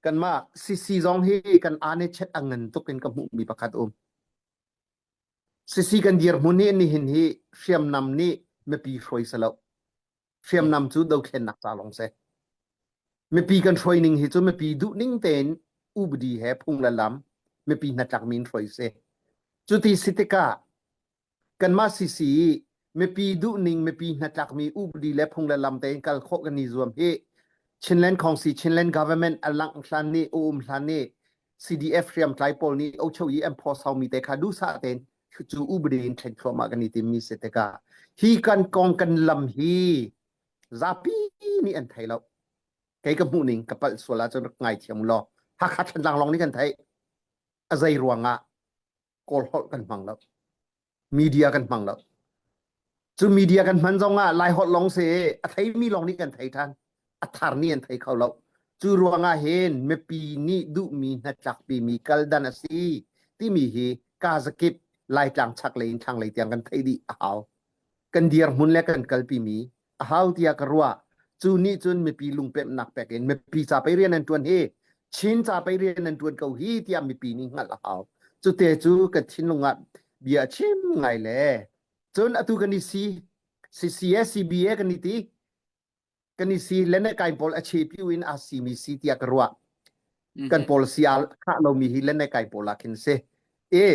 kanmah Sisi zong hi kan anechet a ngan tuk in ka hmuhmi pakhat um. Sisi kan dirhmun hi nihin hi hriamnam nih mipi hruai se lo. Hriamnam cu dokhennak ca lawng se. Mipi kan hruai ning hi cu mipi duh ning tein ubdi he phung le lam mipi hnatlak min hruai se. Cu ti si tikah kanmah sisi mipi duhning mipi hnatlakmi upadi le phung le lam tein kal khawh kan i zuam hi Chinland Kongsi Chinland government alang hlan ni um hlan ni CDF hriam tlai pawl nih ocho i enforce haumi te kha dusa ten chu ubadi in chen thloma kan i tim mi se te ka hi kan kong kan lam hi zapi ni an thai lo kei ka hmuh ning ka pal suala chun ngai thiam lo hakha than lang long ni kan thai azai ruanga kawl holh kan hmang lo media kan hmang lo cu media kan hman zong ah lai holh lawng se a thei mi lawng nih kan thei than a thar nih an thei kho lo cu ruang ah hin mipi nih duhmi hnatlakpi mi kal dan a si timi hi kazakip laitlang chak lei in thlanglei tiang kan thei dih a hau kan dir hmun le kan kalpi mi a hau tiah ka ruah cu nih cun mipi lungpemnak pek in mipi ca pei rian an ṭuan hi Chin ca pei rian an ṭuan ko hi tiah mipi nih hngalh a hau cute cu ka thinlung ah bia a chim ngai le cun atu kan i si CCS CBA kan i ti kan i si le ne kai pawl a che piu in a si mi si tiah ka ruah kan policy a khah lomi hi le ne kai pawl ah khin si e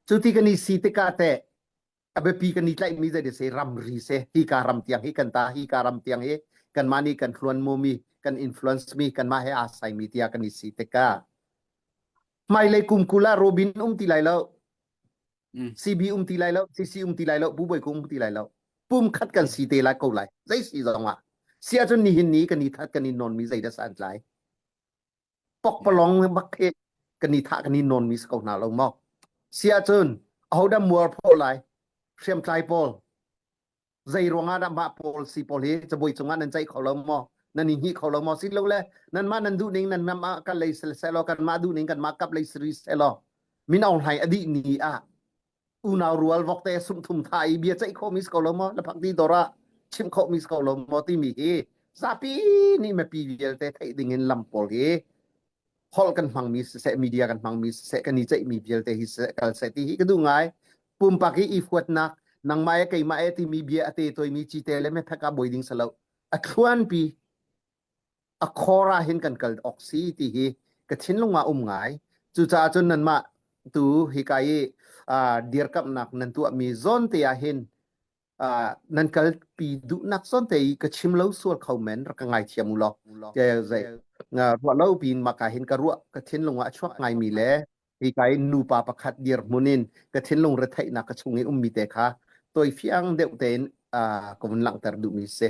cu ti kan i si tikah teh a biapi kan i tlaihmi zei seh ramri se hika ram tiang hi kan ta hika ram tiang hi kanmah nih kan hluan mu mi kan influence mi kanmah he asai mi tiah kan i si tikah hmailei kumkul ah robin um ti lai lo CB um ti lai lo CC um ti lai lo Pu Boi Kung um ti lai lo pum khat kan si te lai ko lai zei si zong ah si ahcun nihin ni kan i that kan i non mi zei das an tlai tokpalong bak hi kan i thah kan i nawn mi ko hna lo maw si ahcun ahodah mualpho lai hriamtlai pawl zei ruangah dah mah pawl si pawl hi cabuai cungah nan ceih kho lo maw nan i hni kho lo maw sin lo le nan mah nan duh ning nan mah kan lei sel selo kan mah duh ning kan mah kap lei seri selo min aung hlai adi ni ah unau rual vok te sung thum tha i bia chai kho mis ko lo mo laphang ti dora chim kho mis ko lo mo ti mi hi zapi ni me pi vialte thei ding in lam pol hi hol kan hmang mi se media kan hmang mi se kan ni chai mi vialte hi se kal se ti hi ka du ngai pumpa ki i fuat nak nang mai ke mai ti mi bia ate toy mi chi te le me pheka boi ding salo atluan pi a khor ah hin kan kal awk si ti hi ka thinlung ah um ngai cucaah cun nanmah tu hika i dirkamhnak nan tuahmi zawnte ah hin nan kalpi duhnak zawnte i ka chim lo sual kho men rak ka ngaithiam u law ruah lo piin maka hin ka ruah ka thinlung ah a chuak ngaimi le hika i nupa pakhat dirhmun in ka thinlung retheihnak ka chung i ummi te kha toi fiang deuh tein ka vun langhter duhmi si